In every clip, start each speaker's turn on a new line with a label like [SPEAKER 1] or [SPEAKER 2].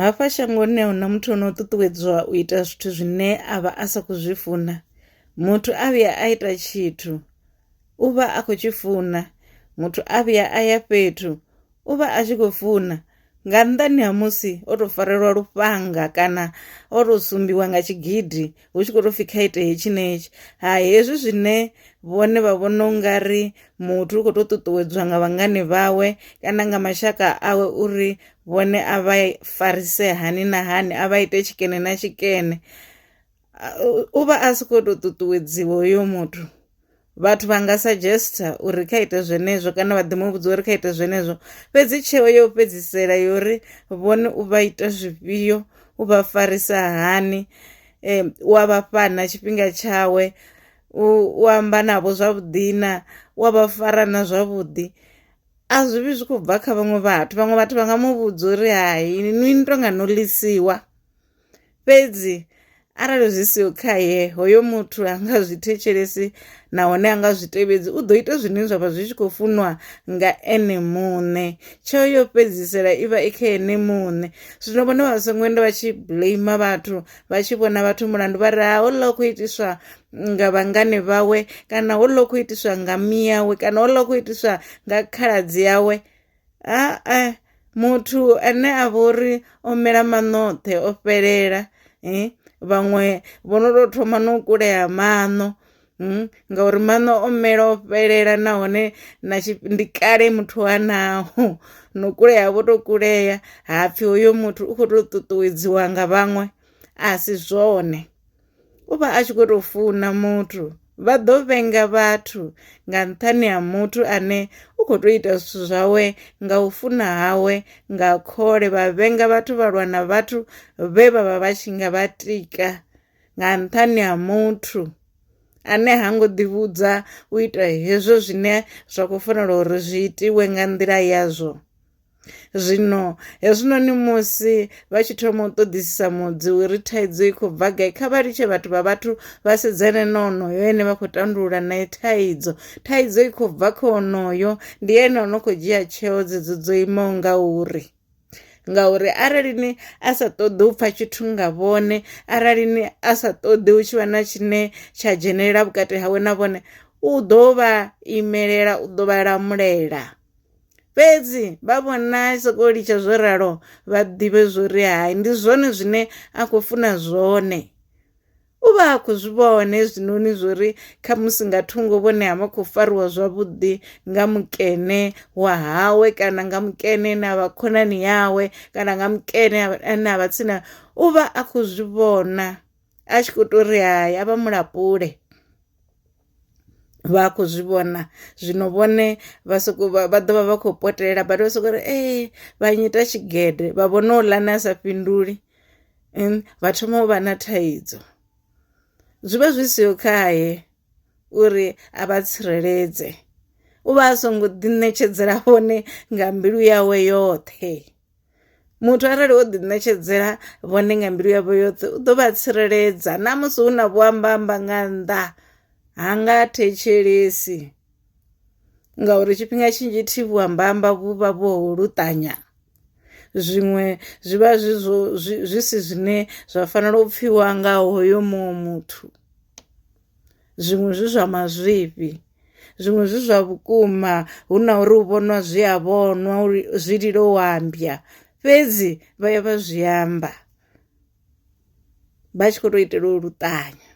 [SPEAKER 1] Hafha shangoni a huna muthu ono ṱuṱuwedzwa u ita zwithu zwine a vha a sa khou zwi funa muthu a vhuya a ita tshithu u vha a khou tshi funa muthu a vhuya a ya fhethu u vha a tshi khou funa nga nnḓani ha musi o to farelwa lufhanga kana o to sumbiwa nga tshigidi hu tshi khou tou pfhi kha ite hetshi ne hetshi ha hezwi zwine vhone vha vhona u nga ri muthu u khou tou ṱuṱuwedzwa nga vhangani vhawe kana nga mashaka awe uri vhone a vha farise hani na hani a vha ite tshikene na tshikene u vha a si khou tou ṱuṱuwedziwa hoyo muthu. vhathu vha nga suggesta uri kha ite zwenezwo kana vha ḓi mu vhudza uri kha ite zwenezwo fhedzi tsheo yo fhedzisela yori vhone u vha ita zwifhio u vha farisa hani um u a vha fhana tshifhinga tshawe u amba navho zwavhuḓi na u a vha fara na zwavhuḓi a zwi vhi zwi khou bva kha vhaṅwe vhathu vhaṅwe vhathu vha nga mu vhudza uri hai ni to nga no lisiwa fhedzi arali zwi siho khaye hoyo muthu a nga zwi thetshelesi nahone a nga zwi tevhedzi u ḓo ita zwine zwa vha zwi tshi khou funwa nga ene muṋe tsheo yo fhedzisela i vha i kha ene muṋe zwino vhone vha songo enda vha tshi blame vhathu vha tshi vhona vhathu mulandu vha ri ha hoḽa u khou itiswa nga vhangane vhawe kana hoḽa u khou itiswa nga miyawe kana hoḽa u khou itiswa nga khaladzi yawe Ha-e, muthu ane a vha uri o mela maṋoṱhe o fhelela vhaṅwe vho no tou thoma no kulea maṋo ngauri maṋo o mela o fhelela nahone na ndi kale muthu a naho, no kulea vho to kulea ha pfhi hoyo muthu u kho to ṱuṱuwedziwa nga vhaṅwe a si zwone. U vha a tshi khou tou funa muthu. Vha ḓo vhenga vhathu nga nṱhani ha muthu ane u khou tou ita zwithu zwawe nga u funa hawe nga khole. Vha vhenga vhathu vha lwa na vhathu vhe vha vha vha tshi nga vha tika nga nṱhani ha muthu ane ha ngo ḓivhudza u ita hezwo zwine zwa khou fanela uri zwi itiwe nga nḓila yazwo. Zwino hezwinoni musi vha tshi thoma u ṱoḓisisa mudzi uri thaidzo i khou bva gai kha vha litshe vhathu vha vhathu vha sedzane na onoyo ene vha khou tandulula nae thaidzo thaidzo i khou bva kha onoyo ndi ene o no khou dzhia tsheo dzedzo dzo imaho nga uri ngauri arali ni a sa ṱoḓi u pfha tshithu nga vhone arali ni a sa ṱoḓi u tshi vha na tshine tsha dzhenelela vhukati hawe na vhone u ḓo vha imelela u ḓo vha lamulela. Fhedzi vha vhona a sokou litsha zwo ralo vha ḓivhe zwori hai ndi zwone zwine a khou funa zwone u vha a khou zwi vhona hezwinoni zwori khamusi nga thungo vhone ha vha khou fariwa zwavhuḓi nga mukene wa hawe kana nga mukene na vha khonani yawe kana nga mukene ane a vha tsini u vha a khou zwi vhona a tshi khou tou ri hai a vha mulapule vha khou zwi vhona zwino vhone vha soko vha ḓovha vha khou potela but vha soko ri ee eh, vha nyita tshigede vha vhona u lane a sa fhinduli vha thoma u vha na thaidzo zwi vha zwi siho khaye uri a vha tsireledze u vha a songo ḓiṋetshedzela vhone nga mbilu yawe yoṱhe. Muthu arali o ḓiṋetshedzela vhone nga mbilu yavho yoṱhe u ḓo vha tsireledza na musi hu na vhuambamba nga nnḓa ha nga thetshelesi ngauri tshifhinga tshinzhi thi vhuambamba vhu vha vho luṱanya zwiṅwe zwi vha zwi zwo zwi si zwine zwa fanela u pfhiwa nga hoyo muṅwe muthu. zwiṅwe zwi zwa mazwifhi zwiṅwe zwi zwa vhukuma hu na uri u vhonwa zwi a vhonwa uri zwi lilo u ambya fhedzi vha ya vha zwi amba vha tshi khou tou itela u luṱanya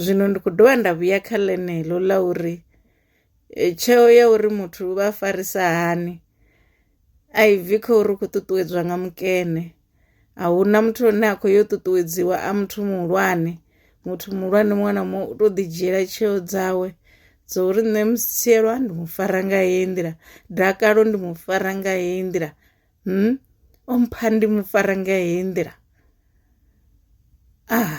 [SPEAKER 1] zwino ndi khou dovha nda vhuya kha ḽeneḽo ḽa uri Tsheo ya uri muthu vha farisa hani a i bvi kha uri u khou ṱuṱuwedzwa nga mukene a hu na muthu ane a khou yo ṱuṱuwedziwa a muthu muhulwane muthu muhulwane muṅwe na muṅwe u to ḓi dzhiela tsheo dzawe dzo uri nṋe musielwa ndi mu fara nga heyi nḓila dakalo ndi mu fara nga heyi nḓila hmm? o mpha ndi mu fara nga heyi nḓila ah